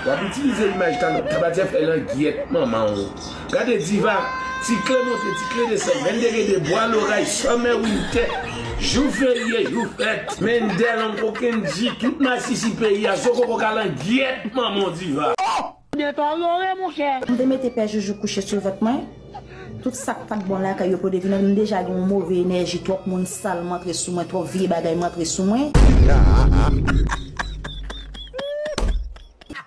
Wap itilize imaj tabatière fè langyèt manman w gade diva ti kle monte ti kle desann mende gen de bwa loray summer winter jou ferye jou fèt. Mende long kou kendji tout masisi peyi a zo koko ka langyèt manman w diva. Ohh! Ou gen tò Roro e monchè. M te mete pè joujou kouche sou vant mwen. Tout sak pat bon lakay yo pote vin an m deja gen yon move enèji twòp moun sal mwantre sou mwen twòp vye bagay mwantre sou mwen.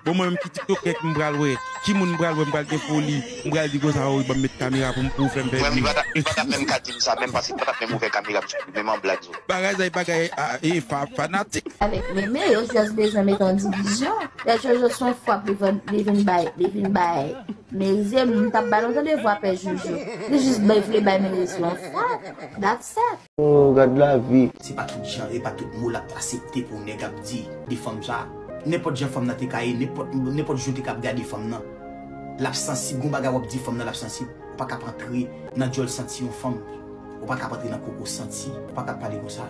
Bon mwen menm ki tiktoker ki m pral wè ki moun m pral wè m pral gen foli m pral di konsa oh banm met kamera pou m pou fèm fè view. Li pa tap menm ka dim sa menm paske li pa tap menm ouvè kamera m sou li menm an blag zo. Bagay zay bagay ee fanatik. Avèk meme yo just bezwen met yon divizyon lè jojo son fwap li vin bay. Merize m tap ba nou tande vwa pè joujou li jis bay vle bay merize yon fòk that's it. Ooh gad lavi. Se pa tout jan e pa tout mo lap asepte pou nèg ap di de fanm sa. Nenpòt jan fanm nan te ka ye, nenpòt je w te ka ap gade fanm nan, lap sansib, gon bagay wap di fanm nan lap sansib, ou pa ka ap antre nan djòl santi yon fanm, ou pa ka ap antre nan koko santi, ou pa ka ap pale konsa.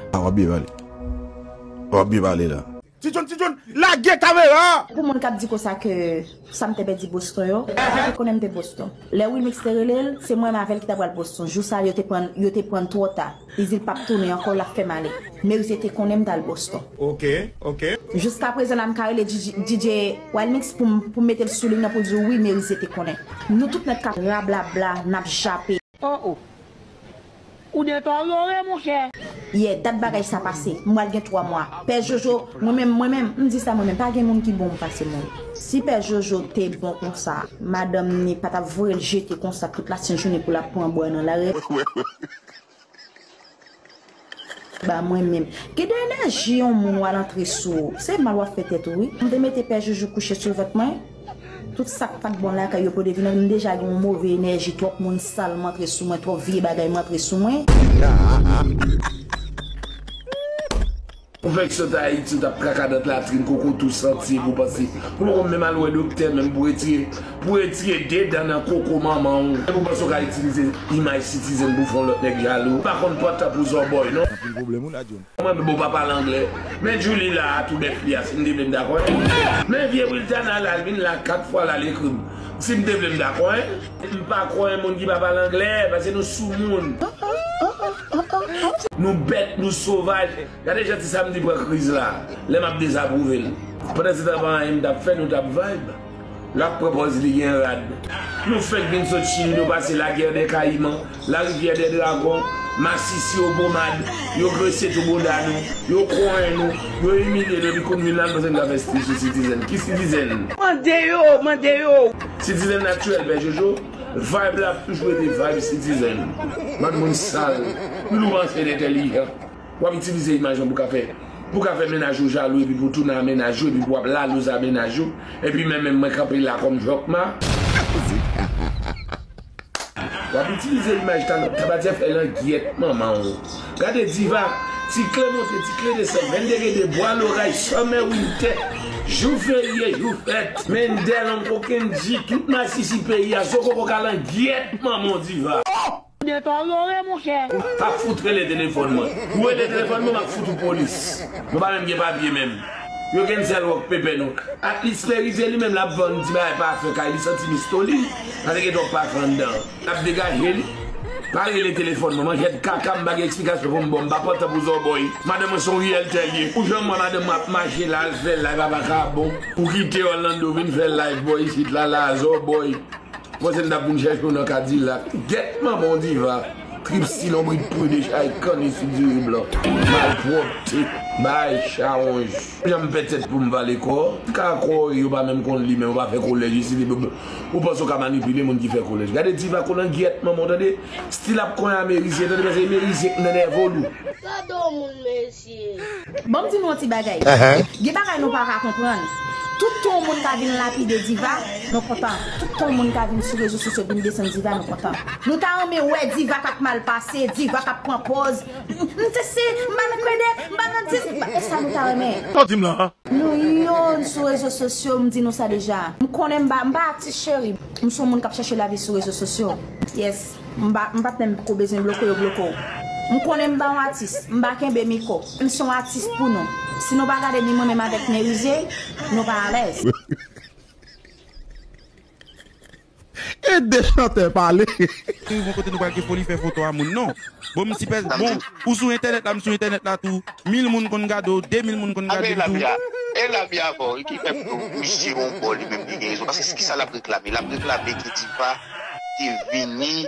Wap byen pale la. Ti John ti John lage kamera a. Pou moun kap di konsa ke sam te pèdi Boston yo, yo te konnen m te Boston. Lè Wilmix te rele l, se mwen avè l ki ta pral Boston. Jou sa yo te pran l, yo te pran l twò ta. Li di l pap tounen ankò, lap fè m ale. Merisye te konnen m tal Boston. Ok ok. Jiskaprezan la m ka rele DJ Wilmix pou m mete l sou liy nan pou l di w wi Merisye te konnen. Nou tout nèt kap rablabla, nap jape. Oh oh Ou deteriore mon chè. Yè dat bagay sa pase, m pral gen 3 mwa. Pè Jojo, mwen menm, mwen menm, m di sa mwen menm, pa gen moun ki bon pase mwen. Si pè Jojo te bon konsa, madanm ni pa tap voye l jete konsa tout la sent jounen pou lap pran bwa nan lari. Ba mwen menm. Gen de enèji yon moun wal antre sou ou. Se mal wap fè tèt ou wi. M te mete pè joujou kouche sou vant mwen. Tout sak pat bon lakay yo pwode vin antre. M deja gen yon move enèji twòp moun sal mwantre sou mwen twòp vye bagay mwantre sou mwen. Haa. Konfeksyon ta ayiti ou tap traka dent latrin koko tou santi epi ou panse ou poko menm al wè doktè menm pou retire pou retire 2 dan nan koko manman ou epi ou panse ou ka itilize imaj citizen pou fon lòt nèg jalou ou pa konn pran tan pou zòbòy non. Anpil pwoblèm wi la John. Mwen menm bon pa pale anglè. Men Julie la a tou bèf li a si m te vle m ta konn l. Men vye Wiltana la l vin la 4 fwa la l ekri m si m te vle m ta konn l. M pa konn moun ki pa pale anglè paske nou soumoun. Nou bèt, nou sovaj. Gade jan ti Samedi pran kriz la, lè map dezapwouve l. Pandan se tan pa anyen m tap fè nou tap vibe. Lap pran pòz li gen rad. Nou fèk vin sot chili nou pase la guerre des caïmans, la rivière des dragons, masisi yo pomad, yo grese tou boda nou, yo konyen nou, yo imilye nou epi kounye la nou panse nou ka fè stil sou citizen. Ki citizen? Mande yo, mande yo. Citizen naturel pè jojo. Vibe la ap toujou rete vibe citizen. Bann moun sal. Youn ou panse n entèlijan. Wap itilize imaj an pou ka fè pou ka fè mennaj ou jalou epi pou tounnan mennaj ou epi pou wap lalouze a mennaj ou epi men menm mwen kanpe la kòm jòkma. Wap itilize imaj talan. Tabatiè fè langyèt manman w. Gade diva, ti kle monte ti kle desann Mende gen de bwa loray summer winter jou ferye jou fèt. Mende long kou kendji tout masisi peyi a zokoko kalangyèt manmanw diva. Oh! Gen tan ou yo re monchè. Ou pa fout rele telefòn mwen. Ou rele telefòn mwen map fout ou polis. Nou pa menm gen papye menm. Yo cancel rock pepe nou. Atlis Merize li menm lap vann ti bagay pafen kay li santi mistolin. Pase gen twòp pafen anndan. Nap degaje li. Pa rele telefòn mwen. Mwen jèd kaka m pa gen eksplikasyon pou m ba w. M pa pantan pou zòbòy. Madanm mwen se yon riyèl tè l ye. Pou jan m wè madanm mwen ap mache la al fè live avè Akabon. Ou kite Orlando vin fè live bò isit la la a zòbòy. Ou panse m t ap vin chèche w nan kadilak. Gèt manman w diva. Trip si lonbrit pru de chay kanni sou diri blan. Malpwòpte. Bagay chawonj. Pou jan m pè tèt pou m vale kò. Ti kaka kò w yo pa menm konn li men yo pa fè kolèj isit epi. Ou panse ou ka manipile moun ki fè kolèj. Gade diva kolangyèt manman w tande. Stil ap konyen a merizyen tande paske e merizyen k nènève w lou. Gadon moun mesye. Banm di nou yon ti bagay. Gen bagay nou paka konprann. Tout tan yon moun ka vin lapide diva, mwen kontan. Tout tan yon moun ka vin sou rezo sosyo vin desann diva mwen kontan. Nou ta renmen wè diva kap mal pase, diva kap pran pòz, m te se, m pa nan krèdè, m pa nan di, m pa, e sa nou ta renmen. Sa w di m lan an? Nou youn sou rezo sosyo m di nou sa deja. M konnen m pa atis cheri. M son moun kap chèche lavi sou rezo sosyo. Yes m pat menm pko bezwen bloke yo bloke w. M konnen m pa yon atis. M pa kenbe miko. M son atis pou nou. Si nou pa gade ni mwen menm avèk Merizier nou pa alèz. Ede chantè pale. Te rive yon kote nou pa gen foli fè foto a moun non. Bon m si pèsn bon ou sou entènèt la m sou entènèt la tou mil moun konn gade w 2 mil moun konn gade m tou. E lami a bon wi ki fè pou misye yon bò li menm li gen rezon paske kisa lap reklame lap reklame ke diva te vini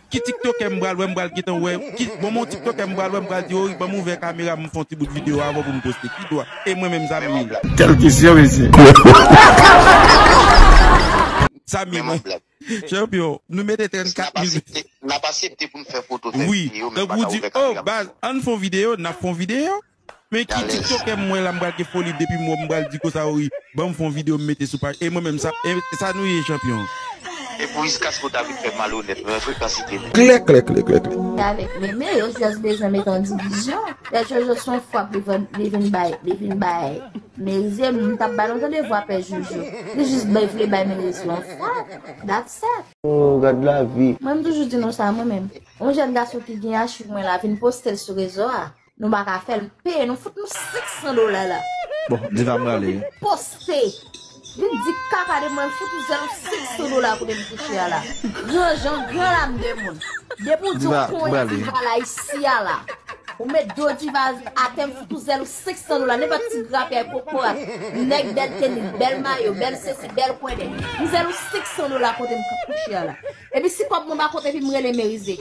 Ki tiktokè m pral wè m pral gentan wè ki bon mon tiktokè m pral wè m pral di ory banm ouvè kamera m fon ti bout video avan pou m poste ki dwa e mwen menm Zamy. Kel kesyon mesye. Zamy mwen. Chanpyon. Nou mete 34 mil. Nap asepte poun fè foto fè video men nou paka ouvè kamera pou nou. Wi tankou w di oh baz ann fon video nap fon video. Men ki tiktokè m wè la m pral gen foli depim wè w m pral di kosa ou ri banm fon video m mete sou paj e mwen menm sa esa nou ye chanpyon. E pou whiskas pou ta vin fè malonèt mwen frekansite li. Kleklekleklekle. Se avèk meme yo just bezwen met yon divizyon pè jojo son fwap li vin li vin bay li vin bay merize m tap ba nou tande vwa pè jojo li jis bay vle bay merize yon fwap that's sa Ooh gad lavi. Mwen m toujou di nou sa mwen menm. Yon jèn gason ki gen achiv mwen la vin postel sou rezo a. Nou pa ka fèl peye nou fout nou 500 dola la. Bon diva m rale wi. Poste Vin di kaka de mwen m fout misye nou 500 dola kote m kouche a la. Gran jan gran lam de moun. Depi w di w konyen diva la isi a la. Ou met do diva atè m fout ou zèl ou 500 dola nenpòt ti grapyay kokorat nèg bèl tenis bèl mayo bèl sesi bèl kwèdè m zèl ou 500 dola kote m kouche a la. Epi si kob mwen pa kont epi m rele merize.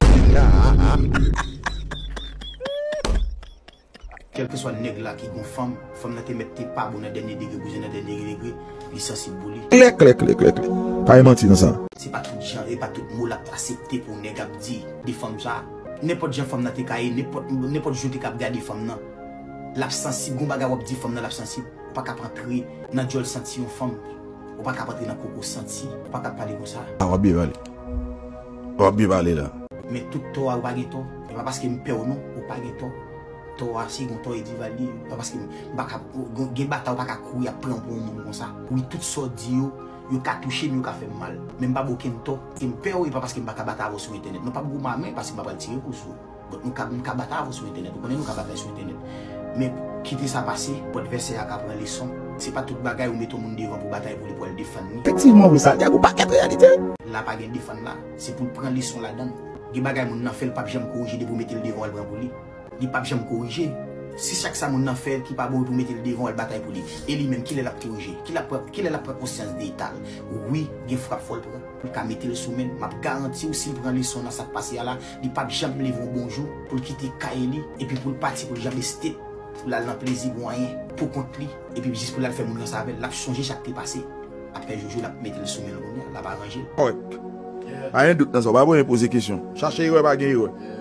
Kelkeswa neg la ki gon fanm, fanm nan te met te pa bon nan denye degre bouzen nan denye degre li sansib pou li. Kleklekleklek pa gen manti nan sa. Se pa tout jan e pa tout mo lap asepte pou neg ap di de fanm sa. Nenpot jan fanm nan te ka ye, nenpot je w te ka ap gade fanm nan lap sansib, gon bagay wap di fanm nan lap sansib, ou pa ka ap antre nan djol santi yon fanm. Ou pa kap antre nan koko santi. Ou pa kap pale konsa. A wap byen pale. Wap byen pale la. Men tout tò a ou pa gen tò. E pa paske m pèw non. Ou pa gen tò. Tò a se yon tò e Dival li. Pa paske m pa ka. Gen batay ou pa ka kouri ap pran pou yon moun konsa. Wi tout sa w di yo. Yo ka touche m yo ka fè m mal. Men m pa ba w okenn tò. E m pèw e pa paske m pa ka batay avèw sou entènèt non. Pa gouman a men paske m pa pral tire kou sou ou. But nou ka nou ka bat avw sou entènèt ou konnen nou ka batay sou entènèt men kite sa pase pot vèsè a ka pran leson se pa tout bagay ou met on moun devan pou batay pou li pou al defann li. Efektivman wi Santiago ou pakèt reyalite. La pa gen defann la, se poul pran leson ladann. Gen bagay moun nan fè l pap janm korije depi w mete l devan w al pran pou li. Li pap janm korije. Si chak sa moun nan fè ki pa bon epi w mete l devan w al batay pou li, e li menm kilè lap korije? Kilè lap pran kilè lap pran konsyans de eta l? Wi gen frap fò l pran pou l ka mete l sou menl. Map garanti w si l pran leson nan sak pase a la, li pap janm leve yon bonjou pou l kite kay li epi pou l pati pou l janbe state pou l al nan plezi pou anyen pou kont li epi jis pou l al fè moun ranse avè l l ap sonje sa k te pase aprè jojo l ap mete l sou men l kounye a l ap aranje l. Kòrèk. Pa gen dout nan sa. Ou pa bezwen poze kesyon. Chache erè pa gen erè.